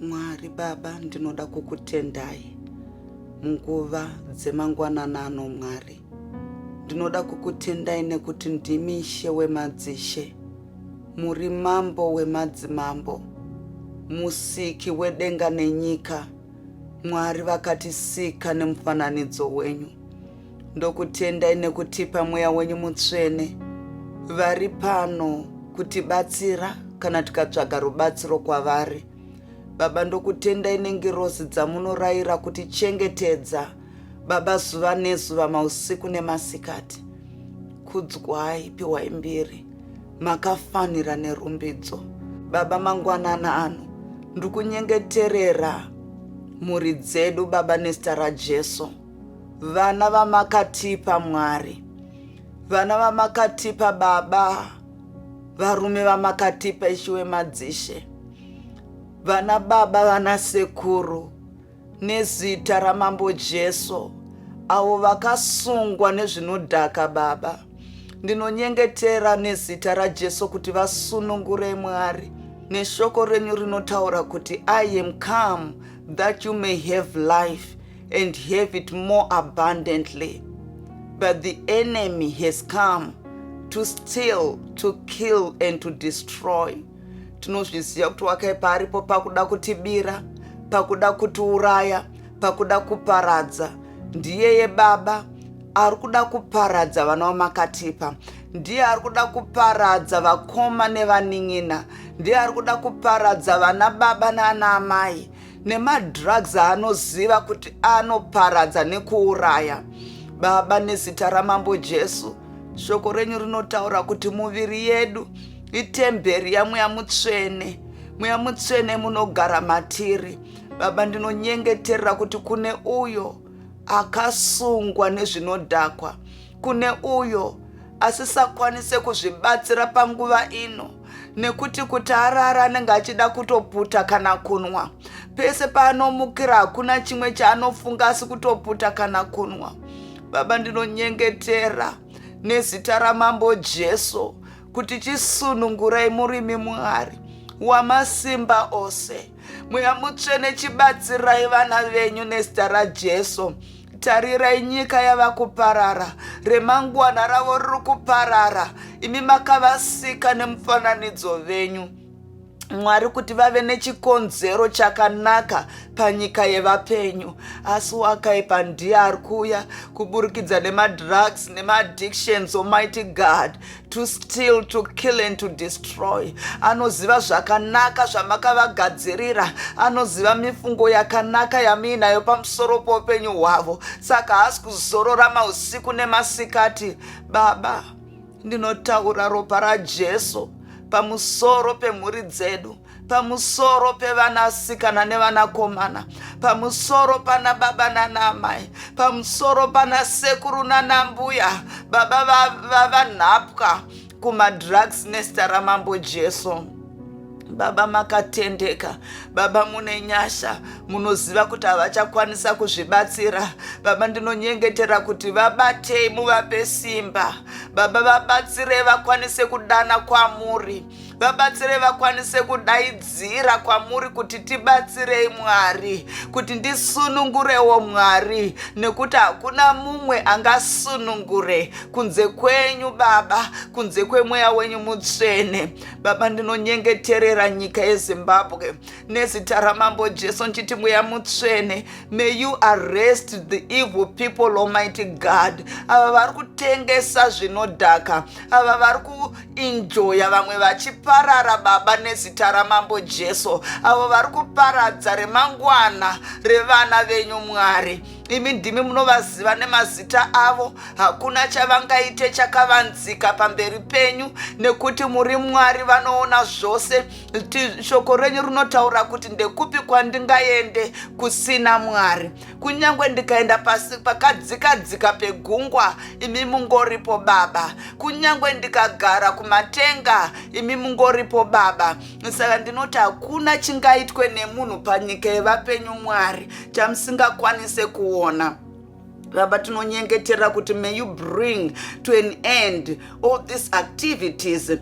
Mwari Baba, ndinoda kukutendai munguva dzemangwanana ano, Mwari. Ndinoda kukutendai nekuti ndimi Ishe wemadzishe, muri Mambo wemadzimambo, musiki wedenga nenyika, Mwari vakatisika nemufananidzo wenyu. Ndokutendai nekutipa mweya wenyu mutsvene vari pano kutibatsira kana tikatsvaga rubatsiro kwavari. Baba, ndokutendai nengirozi dzamunoraira kuti chengetedza Baba zuva nezuva mausiku nemasikati. Kudzwai, piwai mbiri, makafanira nerumbidzo. Baba, mangwanana ano ndikunyengeterera mhuri dzedu Baba nezita raJesu. vana vamakatipa mwari vana vamakatipa baba varume vamakatipa ishiwe madzishe vana baba vana sekuru nezita ramambo jesu avo vakasungwa nezvinodhaka baba ndinonyengetera nezita rajesu kuti vasunungure mwari neshoko renyu rinotaura kuti i am come that you may have life and have it more abundantly. But the enemy has come to steal, to kill and to destroy. Tinozviziva kuti wakaipa aripo pakuda kutibira, pakuda kutiuraya, pakuda kuparadza. Ndiyeye Baba ari kuda kuparadza vana vamakatipa ndiye ari kuda kuparadza vakoma nevanin'ina ndiye ari kuda kuparadza vana baba naana amai nemadrugs aanoziva kuti anoparadza nekuuraya baba nezita ramambo jesu shoko renyu rinotaura kuti muviri yedu itemberi yamweya mutsvene mweya mutsvene munogara matiri baba ndinonyengeterera kuti kune uyo akasungwa nezvinodhakwa kune uyo asisakwanise kuzvibatsira panguva ino nekuti kuti arare anenge achida kutoputa kana kunwa pese paanomukira hakuna chimwe chaanofunga asi kutoputa kana kunwa baba ndinonyengetera nezita ramambo jesu kuti chisunungurai murimi mwari wamasimba ose mweya mutsvene chibatsirai vana venyu nezita rajesu tarirai nyika yava kuparara remangwana ravo riri kuparara imi makavasika nemufananidzo venyu mwari kuti vave nechikonzero chakanaka panyika yevapenyu asi wakaipa ndiye ari kuuya kuburikidza nemadrugs nemaaddictions omighty god to steal to kill and to destroy anoziva zvakanaka zvamakavagadzirira anoziva mifungo yakanaka yamuinayo pamusoro poupenyu hwavo saka haasi kuzorora mausiku nemasikati baba ndinotaura ropa rajesu pamusoro pemhuri dzedu pamusoro pevanasikana nevanakomana pamusoro pana baba nanaamai pamusoro pana sekuru nanambuya baba vavanhapwa va, va kumadrugs nesta ramambo jesu baba makatendeka baba mune nyasha munoziva kuti havachakwanisa kuzvibatsira baba ndinonyengetera kuti vabatei muvape simba baba vabatsirei vakwanise kudana kwamuri vabatsirei vakwanise kudaidzira kwamuri kuti tibatsirei mwari kuti ndisunungurewo mwari nekuti hakuna mumwe angasunungure kunze kwenyu baba kunze kwemweya wenyu mutsvene baba ndinonyengeterera nyika yezimbabwe nezita ramambo jesu ndichiti mweya mutsvene may you arrest the evil people almighty god ava vari kutengesa zvinodhaka ava vari ku Injoya vamwe vachiparara baba nezita ramambo Jesu avo vari kuparadza remangwana revana venyu Mwari imi ndimi munovaziva nemazita avo hakuna chavangaite chakavanzika pamberi penyu nekuti muri mwari vanoona zvose shoko renyu rinotaura kuti ndekupi kwandingaende kusina mwari kunyange ndikaenda pasi pakadzikadzika pegungwa imi mungoripo baba kunyange ndikagara kumatenga imi mungoripo baba saka ndinoti hakuna chingaitwe nemunhu panyika yevapenyu mwari chamusingakwanise kuona baba tinonyengetera kuti may you bring to an end all these activities er,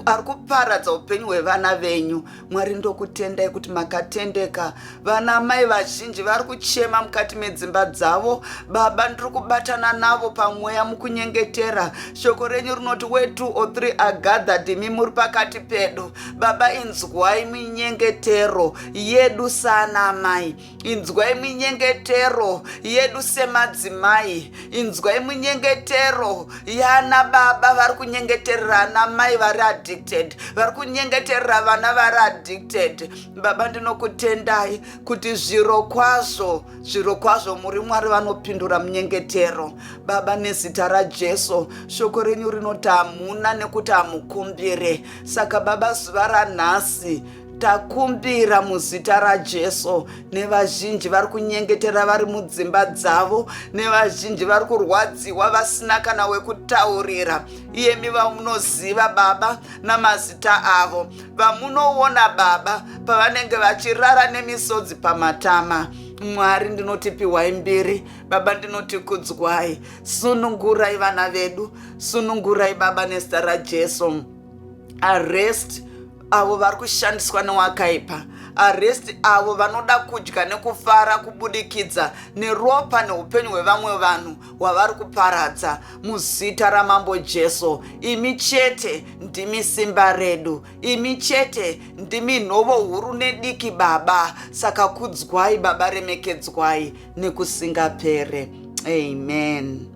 ari kuparadza upenyu hwevana venyu Mwari ndokutendai kuti makatendeka. Vana amai vazhinji vari kuchema mukati medzimba dzavo. Baba ndiri kubatana navo pamweya mukunyengetera. Shoko renyu rinoti we two or three are gathered imi muri pakati pedu. Baba inzwai minyengetero yedu sana amai. inzwai minyengetero yedu semadzimai inzwai minyengetero yana baba vari kunyengeterera ana mai vari addicted vari kunyengeterera vana vari addicted baba ndinokutendai kuti zviro kwazvo zviro kwazvo muri mwari vanopindura munyengetero baba nezita rajesu shoko renyu rinoti hamuna nekuti hamukumbire saka baba zuva ranhasi takumbira muzita rajesu nevazhinji vari kunyengetera vari mudzimba dzavo nevazhinji vari kurwadziwa vasina kana wekutaurira iyemi vamunoziva baba namazita avo vamunoona baba pavanenge vachirara nemisodzi pamatama mwari ndinoti piwai mbiri baba ndinoti kudzwai sunungurai vana vedu sunungurai baba nezita rajesu arrest avo vari kushandiswa newakaipa arrest avo vanoda kudya nekufara kubudikidza neropa neupenyu hwevamwe vanhu hwavari kuparadza muzita ramambo jesu imi chete ndimi simba redu imi chete ndimi nhovo huru nediki baba saka kudzwai baba remekedzwai nekusingapere amen